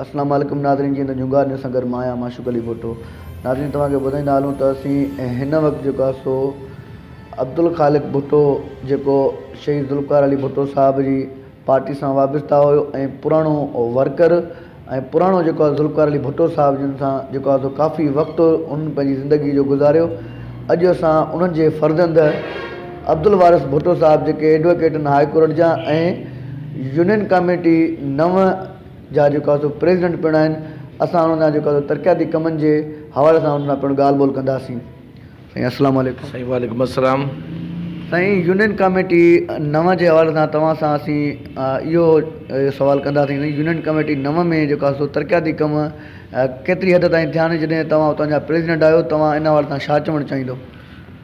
السلام عليڪم ناظرين جيئن ته جهونگار نيوز سان گڏ مان آهيان معشوق علي ڀٽو ناظرين توهان کي ٻڌائيندا هلون ته اسين هن وقت جيڪو آهي سو عبدالخالق ڀٽو جيڪو شهيد ذوالفقار علي ڀٽو صاحب جي پارٽي سان وابسته هيو ۽ پراڻو ورڪر ۽ پراڻو جيڪو آهي ذوالفقار علي ڀٽو صاحب جن سان جيڪو آهي سو ڪافي وقت ان پنهنجي زندگي جو گذاريو اڄ اسان انهن جي فرزند عبدالوارث ڀٽو صاحب جيڪي ايڊوڪيٽ ان هاء ڪورٽ جا ۽ يونين ڪاميٽي نو جا جيڪا سو پريزيڊنٽ پڻ آهن اسان انهن سان جيڪا سو ترقياتي ڪمن جي حوالي سان انهن سان پڻ ڳالهه ٻولهه ڪنداسين سائين السلام عليڪم. سائين وعليڪم السلام سائين يونين ڪاميٽي نو جي حوالي سان توهان سان اسين اهو سوال ڪنداسين سائين يونين ڪاميٽي نو ۾ جيڪا سو ترقياتي ڪم ڪيتري حد تائين ٿيا آهن جڏهن توهان اتان جا پريزيڊنٽ آهيو توهان ان حوالي سان ڇا چوڻ چاهيندو.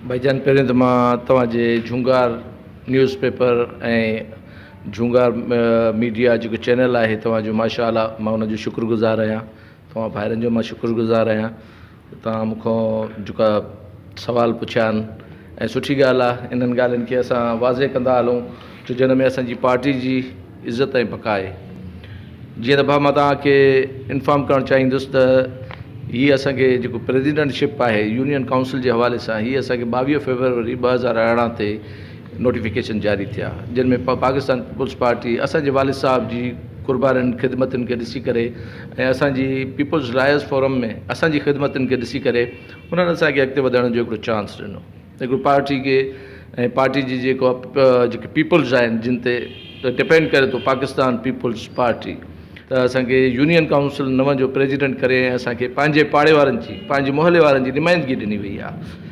ڀائيجان پهريون ته مان توهان جي جهونگار نيوز پيپر ۽ جھونگار ميڊيا جيڪو چينل آھي توھان جو ماشا الله مان ان جو شڪر گذار آھيان توھان ڀائرن جو مان شڪر گذار آھيان توھان مون کان جيڪا سوال پڇيا آھن ۽ سٺي ڳالھ آھھ انھن ڳالھن کي اسان واضع ڪندا ھلون تو جنھن ۾ اسانجي پارٽي جي عزت ۽ بقا آھي جيئن ته ڀا مان توھان کي انفارم ڪرڻ چاھيندس ته ھي اسانکي جيڪو پريزيڊنٽ شپ آھي يونين ڪائونسل جي حوالي سان ھي اسانکي ٻاويھھ فيبروري ٻه ھزار ارڙھن تي نوٽيفڪيشن جاري ٿيا جن ۾ پاڪستان پيپلز پارٽي اسان جي والد صاحب جي قربانين خدمتن کي ڏسي ڪري ۽ اسان جي پيپلز رائز فورم ۾ اسان جي خدمتن کي ڏسي ڪري انهن اسان کي اڳتي وڌڻ جو هڪڙو چانس ڏنو هڪڙو پارٽي کي ۽ پارٽي جي جيڪو جيڪي پيپلز آهن جن تي ڊپينڊ ڪري ٿو پاڪستان پيپلز پارٽي ته اسان کي يونين ڪائونسل نو جو پريزيڊنٽ ڪري ۽ اسان کي پنهنجي پاڙي وارن جي پنهنجي محلي وارن جي نمائندگي ڏني وئي آهي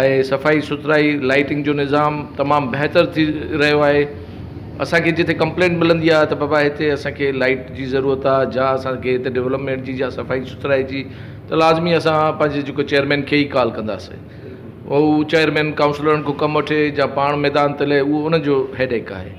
۽ صفائي سٿرائي لائٽنگ جو نظام تمام بهتر ٿي رهيو آهي اسانکي جتي ڪمپلينٽ ملندي آهي ته بابا هتي اسانکي لائٽ جي ضرورت آهي جا اسانکي هتي ڊولپمينٽ جي جا صفائي سٿرائي جي ته لازمي اسان پنهنجي جيڪو چيئرمين کي ئي ڪال ڪنداسي هو چيئرمين ڪائونسلرن کان ڪم وٺي جا پاڻ ميدان تي لهي اهو ان جو هيڊيڪ آهي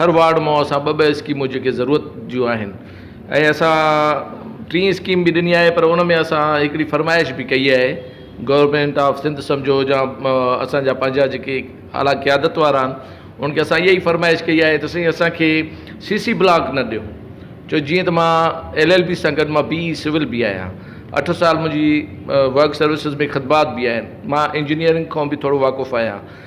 هر وارڊ مان اسان ٻه ٻه اسڪيمون جيڪي ضرورت جون آهن ۽ اسان ٽين اسڪيم به ڏني آهي پر ان ۾ اسان هڪڙي فرمائش به ڪئي آهي گورمينٽ آف سنڌ سمجهو يا اسانجا پنهنجا جيڪي اعليٰ قيادت وارا آهن ان کي اسان اهي فرمائش ڪئي آهي ته سائين اسانکي سي سي بلاڪ نه ڏيو جو جيئن ته مان ايل ايل بي سان گڏ مان بي اي سول به آهيان اٺ سال منهنجي ورڪ سروسز ۾ خدمات به آهن مان انجنيئرنگ کان به ٿورو واقف آهيان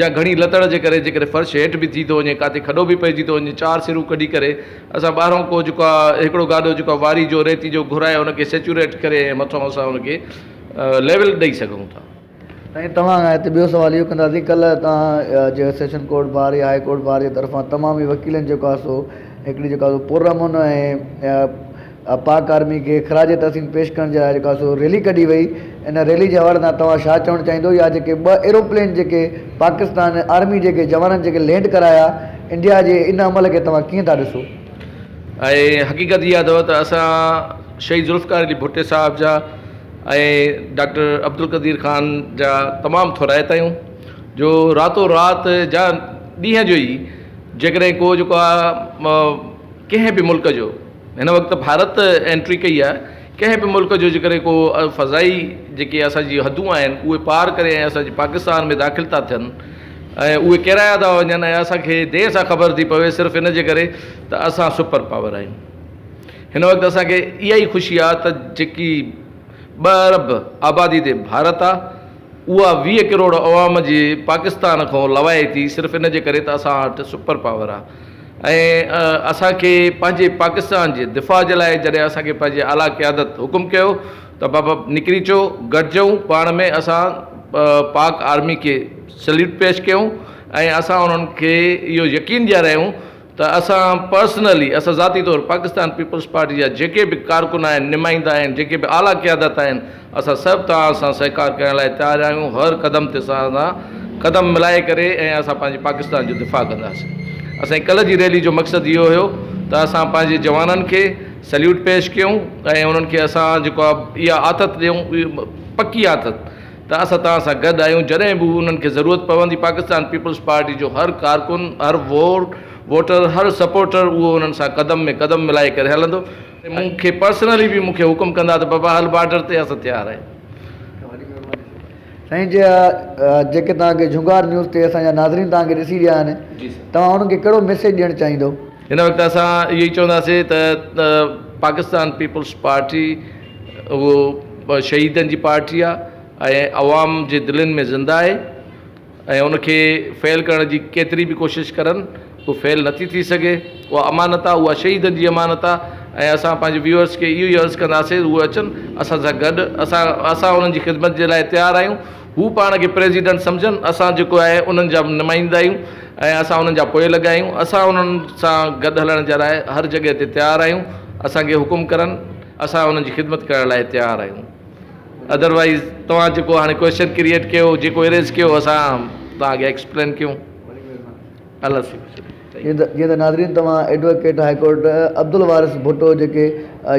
جا گهڻي لتڙ جي ڪري جيڪڏهن فرش هيٺ به ٿي ٿو وڃي ڪاٿي کڏو به پئجي ٿو وڃي چار سرون ڪڍي ڪري اسان ٻاهرون ڪو جيڪو آهي هڪڙو گاڏو جيڪو آهي واري جو ريتي جو گهرائي ان کي سيچوريٽ ڪري ۽ مٿو اسان ان کي ليول ڏئي سگهون ٿا. سائين توهان کان هتي ٻيو سوال اهو ڪنداسين ڪلهه توهان جي سيشن ڪورٽ بار يا هاء ڪورٽ بار جي طرفان تمام ئي وڪيلن جيڪو آهي سو هڪڙي جيڪو آهي سو پرامن ۽ پاڪ آرمي کي خراج تحسين پيش ڪرڻ جي لاء جيڪا سو ريلي ڪڍي وئي ان ريلي جي حوالي سان توهان شا چوڻ چاهيندو يا جيڪي ٻه ايروپلين جيڪي پاڪستان آرمي جيڪي جوانن جيڪي لينڊ ڪرايا انڊيا جي ان عمل کي توهان ڪيئن ٿا ڏسو. ۽ حقيقت اها اٿو ته اسان شهيد ذوالفقار علي ڀٽي صاحب جا ۽ ڊاڪٽر عبدالقدير خان جا تمام ٿورائتا آهيون جو راتو رات جا ڏينهن جو ئي جيڪڏهن ڪو جيڪو آ ڪنهن به ملڪ جو هن وقت ڀارت انٽري ڪئي آهي ڪنهن به ملڪ جو جيڪڏهن ڪو فضائي جيڪي اسان جي حدون آهن اهي پار ڪري ۽ اسان جي پاڪستان ۾ داخل ٿا ٿين ۽ اهي ڪيرايا ٿا وڃن ۽ اسان کي دير سان خبر ٿي پوي صرف ان جي ڪري ته اسان سپر پاور آهيون هن وقت اسان کي اها ئي خوشي آهي ته جيڪي ٻه ارب آبادي تي ڀارت آهي اها ويهه ڪروڙ عوام جي پاڪستان کان لوائي ٿي صرف ان جي ڪري ته اسان وٽ سپر پاور آهي ۽ اسان کي پنهنجي پاڪستان جي دفاع جي لاء جڏهن اسان کي پنهنجي اعليٰ قيادت حڪم ڪيو ته بابا نڪري اچو گڏجون پاڻ ۾ اسان پاڪ آرمي کي سليوٽ پيش ڪيون ۽ اسان انهن کي اهو يقين ڏياريائون ته اسان پرسنلي، اسان ذاتي طور پاڪستان پيپلز پارٽي جا جيڪي به ڪارڪن آهن، نمائندا آهن، جيڪي به اعليٰ قيادت آهن، اسان سڀ توهان سان سهڪار ڪرڻ لاء تيار آهيون، هر قدم تي توهان سان قدم ملائي ڪري ۽ اسان پنهنجي پاڪستان جو دفاع ڪنداسين. اسان جي ڪلهه جي ريلي جو مقصد اهو هيو ته اسان پنهنجي جوانن کي سليوٽ پيش ڪيون ۽ انهن کي اسان جيڪا اها آٿت ڏيون، اها پڪي آٿت، ته اسان توهان سان گڏ آهيون، جڏهن به انهن کي ضرورت پوندي، پاڪستان پيپلز پارٽي جو هر ڪارڪن، هر ووٽر، هر سپورٽر اهو انهن سان قدم ۾ قدم ملائي ڪري هلندو ۽ مون کي پرسنلي به مون کي حڪم ڪندا ته بابا هل بارڊر تي اسان تيار آهيون. سائين جي جيڪي توهان کي جهونگار نيوز تي اسان جا ناظرين توهان کي ڏسي رهيا آهن توهان انهن کي ڪهڙو ميسيج ڏيڻ چاهيندو؟ هن وقت اسان اهو ئي چونداسين ته پاڪستان پيپلز پارٽي اهو شهيدن جي پارٽي آهي ۽ عوام جي دلين ۾ زنده آهي ۽ ان کي فيل ڪرڻ جي ڪيتري به ڪوشش ڪرن هو فيل نٿي ٿي سگهي اها امانت آهي اها شهيدن جي امانت آهي ۽ اسان پنهنجي ويورس کي اهو ئي عرض ڪنداسين هو اچن اسان سان گڏ اسان اسان انهن جي خدمت جي لاء تيار آهيون هو پاڻ کي پريزيڊنٽ سمجهن، اسان جيڪو آهي انهن جا نمائندا آهيون ۽ اسان انهن جا پوئلڳ آهيون، اسان انهن سان گڏ هلڻ جي لاء هر جڳهه تي تيار آهيون، اسان کي حڪم ڪرن اسان انهن جي خدمت ڪرڻ لاء تيار آهيون، اڌروائيز توهان جيڪو هاڻي ڪويسچن ڪريئيٽ ڪيو، جيڪو اريز ڪيو اسان توهان کي ايڪسپلين ڪيون. جيئن ته ناظرين توهان advocate high court Abdul Waris Bhutto جيڪي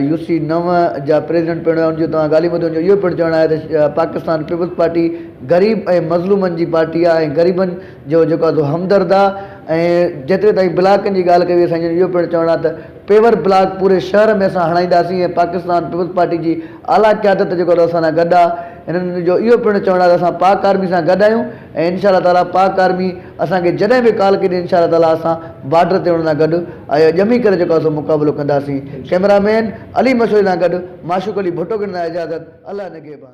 يو سي نو جا پريزيڊنٽ پڻ هئا ان جي توهان ڳالهيون ٻڌيون هونديون اهو پڻ چوڻ آهي ته پاڪستان پيپلز پارٽي غريب ۽ مظلومن جي پارٽي آهي ۽ غريبن جو جيڪو آهي سو همدرد آهي ۽ جيتري تائين بلاڪن جي ڳالهه ڪئي وئي سائين جن جو اهو پڻ چوڻ آهي ته پيور بلاڪ پوري شهر ۾ اسان هڻائينداسين ۽ پاڪستان پيپلز پارٽي جي اعليٰ قيادت جيڪو آهي سو اسان سان گڏ آهي هنن جو اهو پڻ چوڻ آهي ته اسان پاڪ آرمي سان گڏ آهيون ۽ انشاء الله تعالي پاڪ آرمي اسان کي جڏهن به ڪال ڪندي انشاء الله تعالي اسان بارڊر تي ان سان گڏ اهي ڄمي ڪري جيڪو اسان مقابلو ڪنداسين ڪئميرا مين علي مشوري سان گڏ معشوق علي ڀٽو کي ڏيندو آهيان اجازت الله نگهبان.